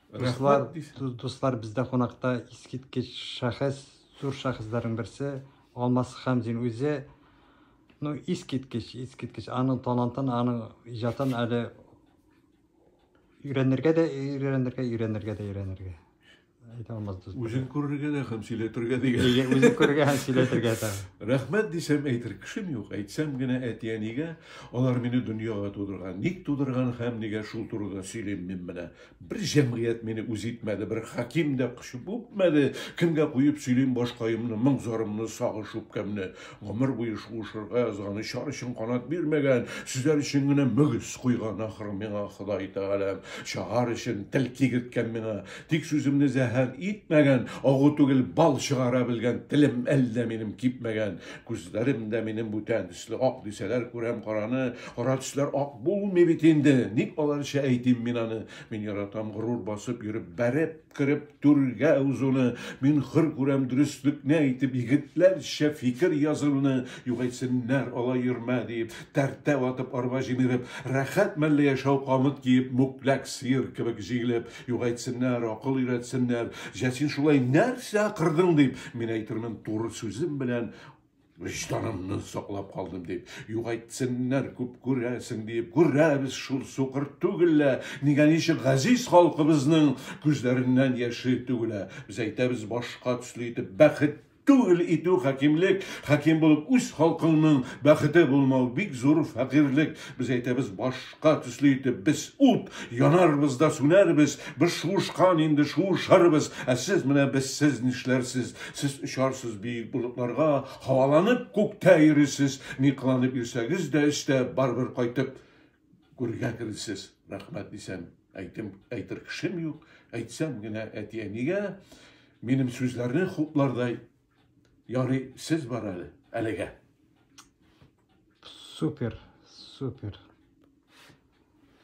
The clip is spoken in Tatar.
Дуслар, дуслар бездә кунакта искиткеч шәхес, зур шәхесләрнең берсе Алмас Хәмзин үзе. Ну, искиткеч, искиткеч. Аның талантын, аның иҗатын әле өйрәнергә дә өйрәнергә, өйрәнергә дә өйрәнергә. Әйтә алмас дус. Үзен күрергә дә һәм сөйләтергә дигән. Үзен күрергә һәм сөйләтергә дә. Рәхмәт дисәм әйтер кешем юк. Әйтсәм генә әти-әнигә Алар мине дөньяга тудырган. Ник тудырган һәм нигә шул турыда сөйлим мин менә. Бер җәмгыять мине үз итмәде, бер хаким дә кочып үпмәде. Кемгә куеп сөйлим башкаемны, моң-зарымны, сагыш-үпкәмне. Гомер буе шуышырга язган, очар өчен канат бирмәгән, сөзәр өчен генә мөгез куйган, ахры, миңа Ходай Тәгаләм. Чагар өчен тел кигерткән миңа. Тик сүземне зәһәр итмәгән, агу түгел, бал чыгара белгән, телем әллә минем кипмәгән. Күзләрем дә минем бүтән. төсле ак дисәләр, күрәм караны, кара төсләр ак булмый бит инде. Ник аларча әйтим мин аны? Мин яратам горур басып йөреп, бәреп кереп түргә узуны. Мин хөр күрәм дөреслекне әйтеп, егетләрчә фикер язуны. Югайтсеннәр, ала йөрмә диеп, тәртә ватып, арба җимереп, рәхәт мәлле яшәү камыт киеп, мүкләк сыер кебек җигелеп, югайтсеннәр, акыл өйрәтсеннәр. Җәсин шулай нәрсә акырдың дип, мин әйтермен туры сүзем белән, Вөҗданымны саклап калдым дип, югайтсеннәр күп күрәсең диеп, күрәбез шул сукыр түгелә, нигә ничек газиз халкыбызның күзләреннән яше түгелә. Без әйтәбез башка төсле итеп, бәхет түгел итү хакимлек, хаким булып үз халкыңның бәхете булмау бик зур фәкыйрьлек. Без әйтәбез баш. утка төсле итеп без ут, янарбыз да сүнәрбез, без шуышкан инде шуышырбыз, ә сез менә без сез нишләрсез, сез очарсыз биек болытларга, һаваланып күктә йөрисез, ни кыланып йөрсәгез дә эчтә барыбер кайтып гүргә кересез. Рәхмәт дисәм, әйтем, әйтер кешем юк, әйтсәм генә әти-әнигә минем сүзләрне хуплардай Ярый, сез бар әле, әлегә. Супер, супер.